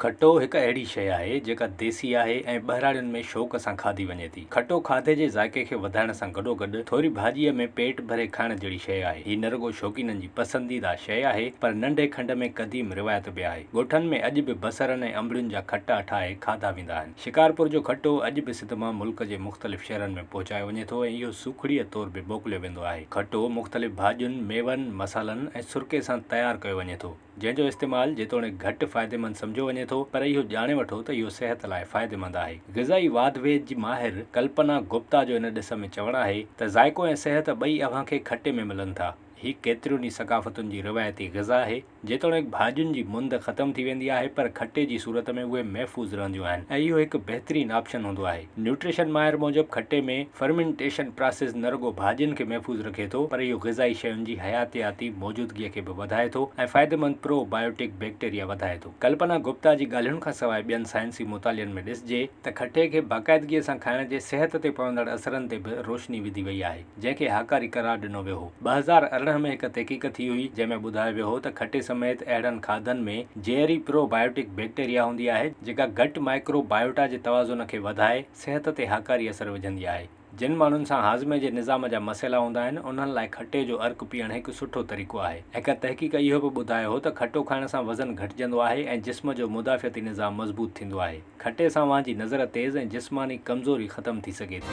کٽو هڪ اهڙي شيء آهي جيڪا ديسي آهي ۽ ٻهراڙين ۾ شوق سان کاڌي وڃي ٿي. کٽو کاڌي جي ذائقي کي وڌائڻ سان گڏوگڏ ٿوري ڀاڄيء ۾ پيٽ ڀري کائڻ جهڙي شيء آهي. هي نه رڳو شوقينن جي پسنديده شيء آهي پر ننڍي کنڊ ۾ قديم روايت به آهي. ڳوٺن ۾ اڄ به بصرن ۽ انبڙين جا کٽا ٺاهي کاڌا ويندا آهن. شڪارپور جو کٽو اڄ به سڌ مان ملڪ جي مختلف شهرن ۾ پهچايو وڃي ٿو ۽ اهو سوکڙيء طور به موڪليو ويندو آهي. کٽو مختلف ڀاڄين، ميون، مصالحن ۽ سرڪي سان تيار ڪيو وڃي ٿو. جنهن جو استعمال جيتوڻيڪ گهٽ فائديمند سمجهيو وڃي ٿو پر اهو ڄاڻي وٺو ته اهو صحت لاء فائديمند آهي. غذائي واڌ ويد جي ماهر ڪلپنا گپتا جو ان ڏس ۾ چوڻ آهي ته ذائقو ۽ صحت ٻئي اوهان کي کٽي ۾ ملن ٿا. هي ڪيترين ئي ثقافتن جي روايتي غذا آهي. جيتوڻيڪ ڀاڄين جي مند ختم ٿي ويندي آهي پر کٽي جي صورت ۾ اهي محفوظ رهنديون آهن ۽ اهو هڪ بهترين آپشن هوندو آهي. نيوٽريشن ماهر موجب کٽي ۾ فرمينٽيشن پراسيس نه رڳو ڀاڄين کي محفوظ رکي ٿو پر اهو غذائي شين جي حياتياتي موجودگيء کي به وڌائي ٿو ۽ فائديمند پرو بائيوٽڪ بيڪٽيريا وڌائي ٿو. ڪلپنا گپتا جي ڳالهين کان سواء ٻين سائنسي مطالعن ۾ ڏسجي ته کٽي کي باقاعدگيء سان کائڻ جي صحت تي پوندڙ اثرن تي به روشني وڌي وئي آهي. جنهن کي هاڪاري قرار ڏنو ويو هو. ٻه هزار ارڙهن ۾ هڪ تحقيق ٿي هئي، جنهن ۾ ٻڌايو ويو هو ته کٽي سميت اهڙن کاڌن ۾ زهري پرو بائيوٽڪ بيڪٽيريا هوندي آهي، جيڪا گٽ مائڪرو بائيوٽا جي توازن کي وڌائي صحت تي هاڪاري اثر وجهندي آهي. جن ماڻهن سان هاضمي جي نظام جا مسئلا هوندا آهن، انهن لاء کٽي جو عرق پيئڻ هڪ سٺو طريقو آهي. هڪ تحقيق اهو به ٻڌايو هو ته کٽو کائڻ سان وزن گهٽجندو آهي ۽ جسم جو مدافعتي نظام مضبوط ٿيندو آهي. کٽي سان اوهان جي نظر تيز ۽ جسماني ڪمزوري ختم ٿي سگهي ٿي.